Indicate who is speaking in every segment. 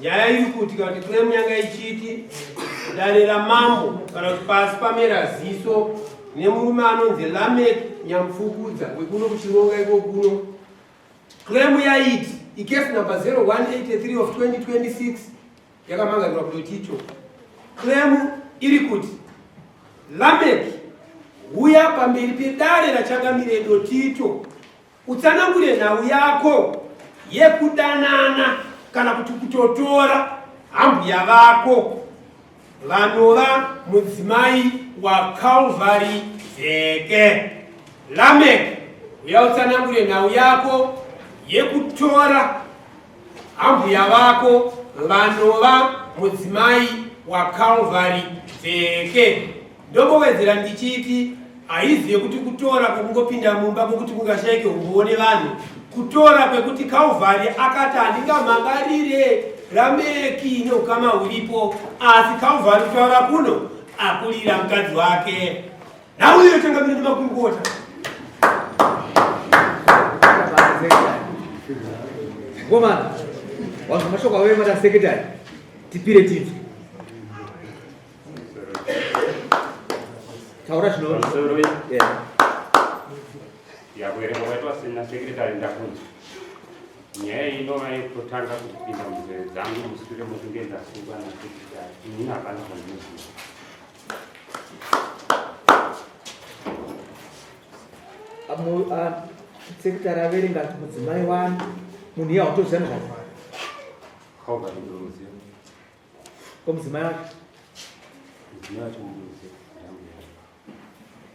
Speaker 1: nyaya iri kuti kana kuti kune munyanga ichiti dare ramambo kana kuti pasi pamera ziso nemurume anonzi lamek nyamufukudza wekuno kuchironga iko kuno klemu yaiti ikefu number 0183 of 2026 yakamangarirwa kutoti icho klemu iri kuti lameki huya pamberi pedare rachangamire dotito utsanangure nhau yako yekudanana kana kuti kutotora hambuya vako vanova mudzimai wakalvari vheke lamek uya utsanangure nhau yako yekutora Ambuya vako vanova mudzimai waCalvary Dzveke. Ndongowedzera ndichiti haizive kuti kutora kwekungopinda mumba kwekuti kungashaike umbowo nevanhu kutora kwekuti Calvary akati handingamhangarire rameki neukama huripo asi Calvary kutaura kuno akurira mukadzi wake. nhau iyo itangamire nemakurukota
Speaker 2: ngomana wanzwa mashoko avo emada sekretari tipire tinzwe taura zvinoroi
Speaker 3: yakuerenga kwaitwa sina sekretari ndakunzwa nyaya iyi inova yekutanga kupinda munzeve dzangu mushure mokunge ndasungwa nasekretari inini hapana zvandiziva
Speaker 2: sekitari averenga kuti mudzimai wani munhu iye hautoziva nezvazvaa ko mudzimai
Speaker 3: wacho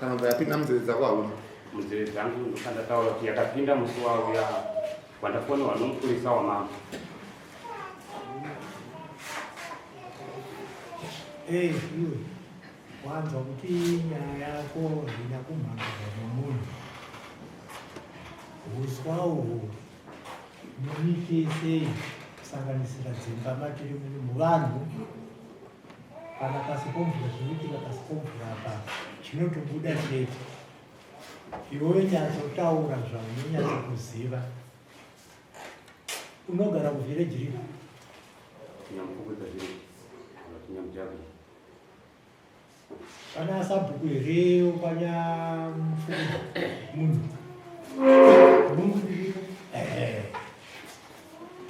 Speaker 4: kana mvura yapinda munzeve dzako hauna munzeve dzangu
Speaker 3: ndokandataura kuti yakapinda musi wauya wandafonewa nomupurisa wamama
Speaker 5: Hey, you. Wanzwa kuti nyaya yako haina kumhangaza nomunhu. Uswa uhwu munyike sei kusanganisira dzimba matiri muvanhu Kana pasi pomvura zvinoitika pasi pomvura apa zvinotobuda chete. Iwewe nyatsotaura zvaunonyatsa kuziva. Unogara kuvhireji rii?
Speaker 3: Nyamukupedza zviri. Nyamujabhi.
Speaker 5: Kana asabhuku here ukanya mfundo munhu. Munhu ndiri. Eh.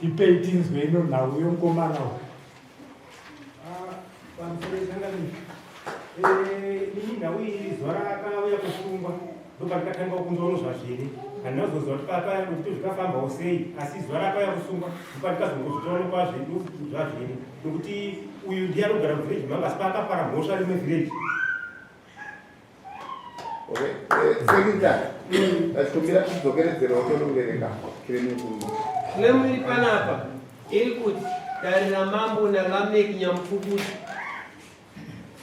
Speaker 5: Tipei tinzwe ino nhau yomkomana uyu. ini nhau iyi iri zuva rakauya kusungwa ndoba ndikatanga kunzwa nozvazviri handina kuzoziva kuti pakaya kuti zvikafambawo sei asi zuva rakauya kusungwa ndoba ndikazongozvitaona kwazvedu zvazviri nokuti uyu ndiye anogara muvhireji manga asi paakapara mhosva rimwe vhireji
Speaker 4: Ndachikumbira kudzokeredzera utonovereka kiremu kuru.
Speaker 1: Kiremu iri panapa iri kuti dare ramambo naLameck Nyamupfukuti.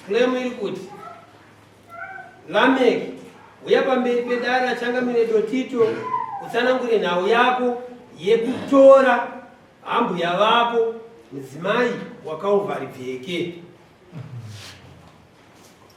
Speaker 1: Kiremu iri kuti Lameck uya pamberi pedare achangamire Dotito utsanangure nhau yako yekutora hambuya vako mudzimai wakauvharibveke.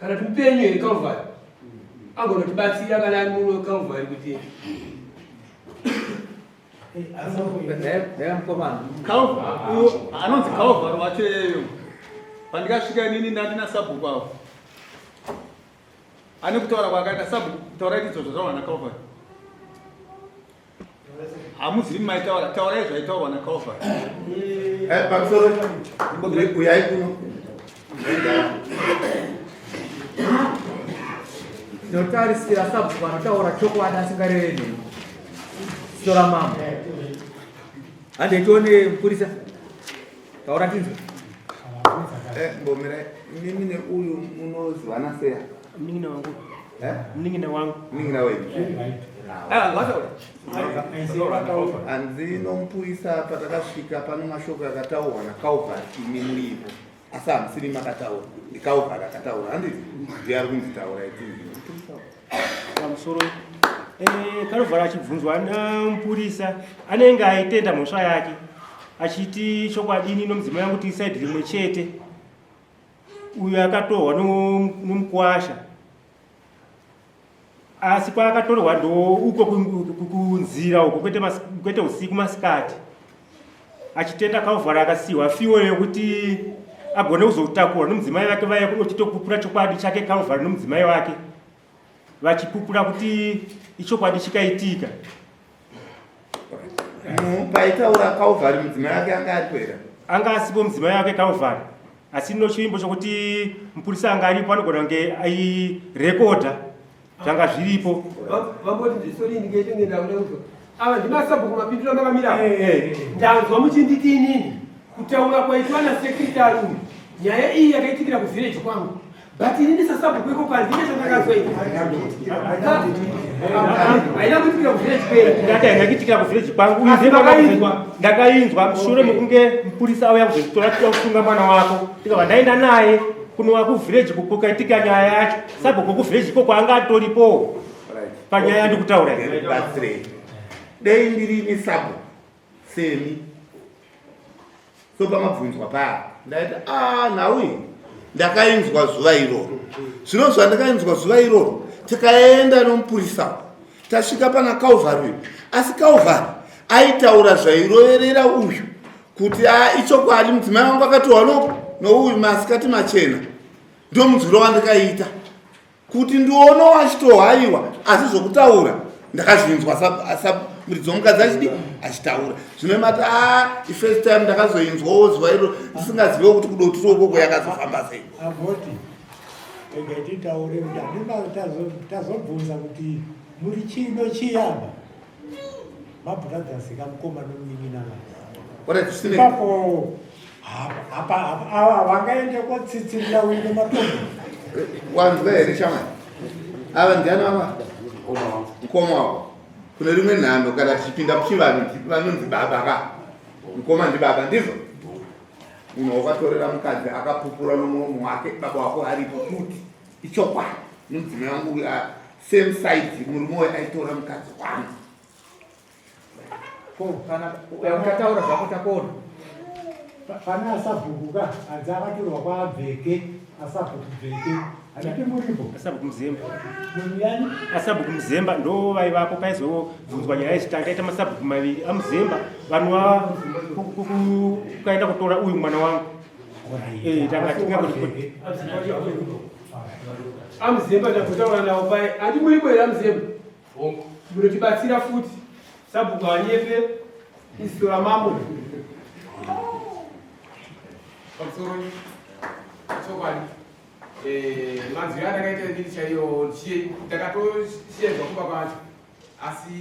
Speaker 1: kana kuti mupenyu here Calvary angonotibatsira kana ari muno Calvary kuti
Speaker 6: anonzi Calvary wacho yeyo pandikasvika inini ndandina sabhuku avo ane kutaura kwakaita sabhuku taura itidzo zvataura na Calvary hamuzivi maitaura
Speaker 4: taurai zvaitaurwa nakalva eh, pamusoro uyai
Speaker 2: kuno notarisira sabhuku anotaura chokwadi asingareve neni sitora mambo handei tione mupurisa taura tinzwe eh, mbomira
Speaker 4: mimi neuyu munozivana seya Mningina wangu.
Speaker 5: Eh? Mningina wangu. Mningina
Speaker 4: wewe.
Speaker 2: Ah, wacha ule.
Speaker 4: Anzino mpuisa hapa takasvika pano mashoko akataurwa na Calvert imi muripo. Asi hamusiri makataura. Ndi Calvert akataura. Handi ndiye ari kunzi taura iti.
Speaker 5: Pamusoro eh Calvert achibvunzwa na mpurisa anenge aitenda mhosva yake achiti chokwadini nomudzimu yangu tiside rimwe chete. uyu akatorwa nomukwasha asi kwaakatorwa ndo uko kunzira uko kwete usiku masikati achitenda kauvhara akasiyiwa fiwo yekuti agone kuzotakura nomudzimai vake vaya kunochitokupura chokwadi chake kauvhara nomudzimai wake vachipupura kuti ichokwadi chikaitika
Speaker 4: paitaura calvary mudzimai wake anga aripo here anga asipo mudzimai
Speaker 5: wake calvary asi no chivimbo chokuti mupurisa anga aripo anogona kunge airekodha zvanga zviripo
Speaker 1: ava ndimasabhuku mapindura makamira eh, eh, eh. ndanzwa muchinditi inini kutaura kwaitwa nasekretari uyu nyaya iyi yakaitikira kuvhireji kwangu But ini ndisasabhuku iko kwanzi ine chandakazoita. Haina kuitikira kuvillage kwedu. Ndati haina kuitikira kuvillage
Speaker 5: kwangu. Uyu zimba ndakainzwa. Ndakainzwa mushure mekunge mupurisa auya kuzotora tida kusunga mwana wako. Ndikabva ndaenda naye kunova kuvillage kukaitika nyaya yacho. Sabhuku kuvillage iko kwaanga atoripo. Panyaya ndikutaura.
Speaker 4: Dei ndiri ini sabhuku. semi so pamabvunzwa paya ndaita a ah, nhau iyi ndakainzwa zuva iroro zvino zvandakainzwa zuva iroro tikaenda nomupurisa tasvika pana calvary uyu asi calvary aitaura zvairoverera uyu kuti a ah, ichokwadi mudzimai wangu akatohwa no nouyu masikati machena ndomunzwiro wandikaita kuti ndiono wachitohaiwa asi zvokutaura ndakazvinzwa muridzi womukadzi achidi achitaura zvino mati a ifirst time ndakazoinzwawo zuva iro ndisingazivewo kuti kudotiro ukoko yakazofamba sei
Speaker 7: tazobvunza kuti muri chino chiyaba mabrothers kamukoma nomunin'ina
Speaker 4: ipapo
Speaker 7: ava vangaende kotsitsirira uine matombo wanzwa
Speaker 4: here shama ava ndiani ava mukoma wavo kune rimwe nhando kana tichipinda kuchivanhu vanonzi baba ka mukoma ndibaba ndizvo munhu wakatorera mukadzi akapupura nomuromo wake baba wako aripo kuti ichokwadi mudzimai wangu uyo same size murume uyu aitora mukadzi wangu
Speaker 2: ko kana ukataura zvako takuona
Speaker 7: pane asabhuku ka hanzi akatorwa kwaabveke asabhuku bveke handipi muripo asabhuku muzemba
Speaker 5: muyani
Speaker 7: asabhuku muzemba
Speaker 5: ndo vaivapo paizobvunzwa nyaya yechitanga yaita masabhuku maviri amuzemba vanova ukaenda kutora uyu mwana wangu eh, tanga tinga kuti
Speaker 1: amuzemba tagotaura nawo paye handi muri bwere amuzemba munotibatsira futi sabhuku hanyepe iziso ramambo
Speaker 8: pamusoro chokwadi eh, manzwi aya ndakaita ndini chaiyo ndakatosiyedzwa kumba kwacho asi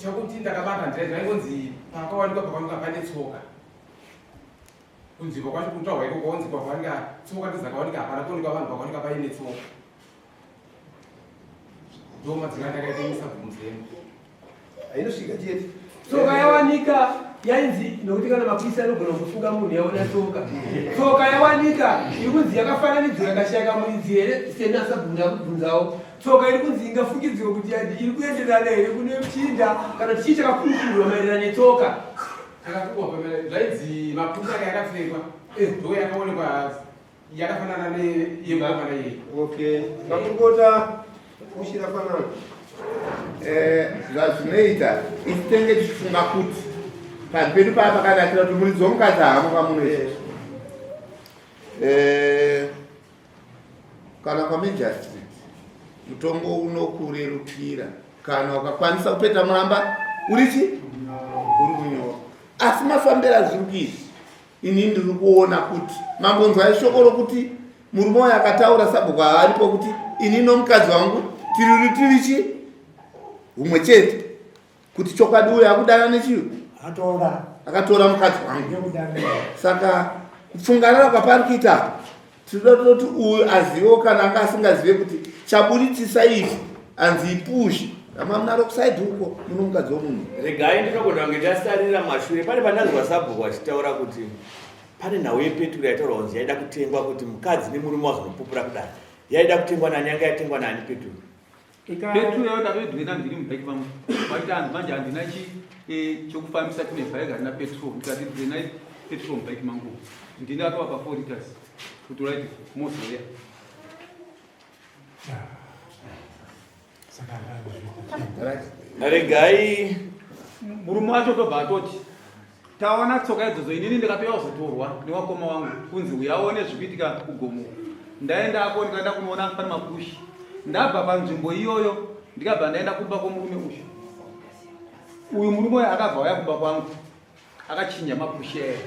Speaker 8: chakuti ndakabata ndira zvaingonzi pakawanikwa pakawanikwa pane tsoka kunzvimbo kwacho kutaurwa ikoko onzi kwakawanika tsoka ndizakawanika hapana kuonekwa vanhu vakawanika paine tsoka ndoma dzinandakaitaisa bvunzemu ainosvika
Speaker 1: chete tsoka yawanika yainzi nokuti kana mapurisa anogona kufunga munhu yaona tsoka tsoka yawanika iri kunzi yakafananidzwa yakashayika muridzi here sena asabvunzi akubvunzawo tsoka iri kunzi ingafungidzirwa kuti iri kuenderana here kune muchinda kana tichii chakakurukurwa maererano netsoka
Speaker 8: Takatukwa pamela zvaidzi maputa
Speaker 9: ake akapfekwa
Speaker 8: eh, ndo yakaonekwa yakafanana neyemavana
Speaker 9: iye. Okay, makurukota
Speaker 4: kushira fanana eh, zvazvinoita isi tenge tichifunga kuti panhu pedu paa pakanakira kuti muridzi womukadzi haamo pamuno izvezvi eh, Kana kwamejastri mutongo unokurerukira kana ukakwanisa kupeta muramba urichi uri kunyora asi mafambiro azviri kuizi ini ndiri kuona kuti mambonzwa ishoko rokuti murume uyo akataura sabhuku aaripo kuti ini nomukadzi wangu tiri rutirichi humwe chete kuti chokwadi uyo akudana nechii akatora mukadzi wangu saka kupfunganana kwapari kuita tinoda toti uyu azivewo kana anga asingazive kuti chaburitsisa izvi anzi ipushi ramamunaro kusaidi uko muno mukadzi womunhu regai ndinogona kunge
Speaker 2: ndasarira mashure pane pandanzwa sabhuku vachitaura kuti pane nhau yepeturu yaitaura kunzi yaida kutengwa kuti mukadzi nemurume wazonopupura kudai yaida kutengwa nani yanga yatengwa nani peturu Petro
Speaker 6: yauda vedu ina ndiri mubike vangu vaita hanzi manje handina chi eh, chokufambisa kune bike handina petrol ndikati ndinai petrol mubike mangu ndini atovapa four liters kuti uraiti mozoya
Speaker 2: regai murume
Speaker 6: wacho tobva atoti taona tsoka idzodzo inini ndikapera kuzotorwa newakoma wangu kunzi uyaone zvikuitika kugomo ndaenda ako ndikaenda kunoona pane makushi ndabva panzvimbo iyoyo ndikabva ndaenda kumba kwomurume uyu uyu murume uyo akabva waya kumba kwangu akachinya makushi aya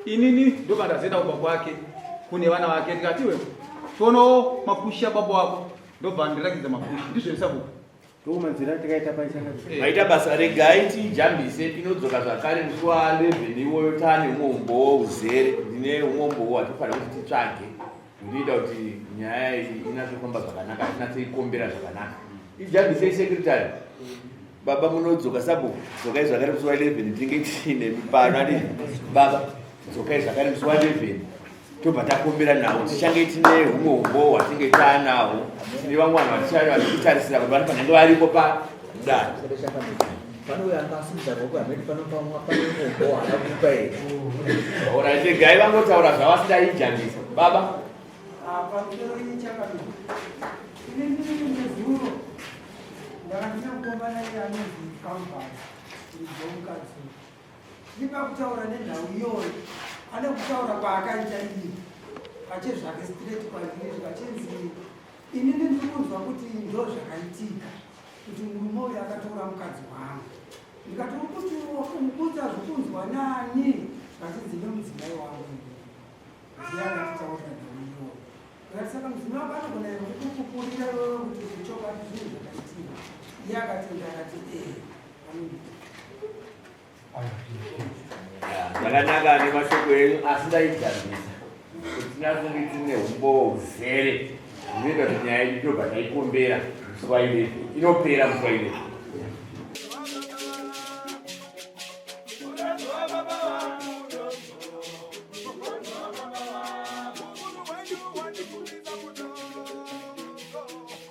Speaker 6: inini ndobva ndazoenda kumba kwake kune vana vake ndikatiwe tonowo makushi ababa wako ndobva ndirakidza makushi ndizvo isabuku
Speaker 2: maita basa regai tijambise tinodzoka zvakare musuwa 11 iwoyo tane umwe umbowo uzere ndine umwe umbowo watifanira kuti titsvage ndiita kuti nyaya iyi inatsofamba zvakanaka tinatsoikombera zvakanaka ijambise secretary baba munodzoka sabu dzokai zvakare musuwa 11 tinge tiine mipano ati baba dzokai zvakare musi wa 11 tobva takombera nawo tichange tine humwe umbowo hwatinge taanawo tine vamwe vanhu vatichave vachikutarisira kuti vanofanenge variko padare oraitegai vangotaura zvavasidaijambisa baba ndakandina kukombana iye anonzi
Speaker 9: kambani ndizomukadzi Ndipa kutaura nenhau iyoyo pane kutaura kwaakaita iyi pachezvake straight kwandiri zvachinzi ini ndiri kunzwa kuti ndo zvakaitika kuti murume uyo akatora mukadzi wangu ndikati uri kuti wakumukudza zvokunzwa nani vachinzi nemudzimai wangu ziya akatitaurira nhau iyoyo akati saka mudzimai wako anogona ere kukupupurira iwewe kuti zvechokwadi zvinhu zvakaitika iye akatenda akati ee
Speaker 2: zvakanaka ane mashoko enyu asi ndaigadzisa kuti nakunge tine umbowo uzere zvinoita kuti nyaya yedu tobva taikombera muswaire inopera muswaire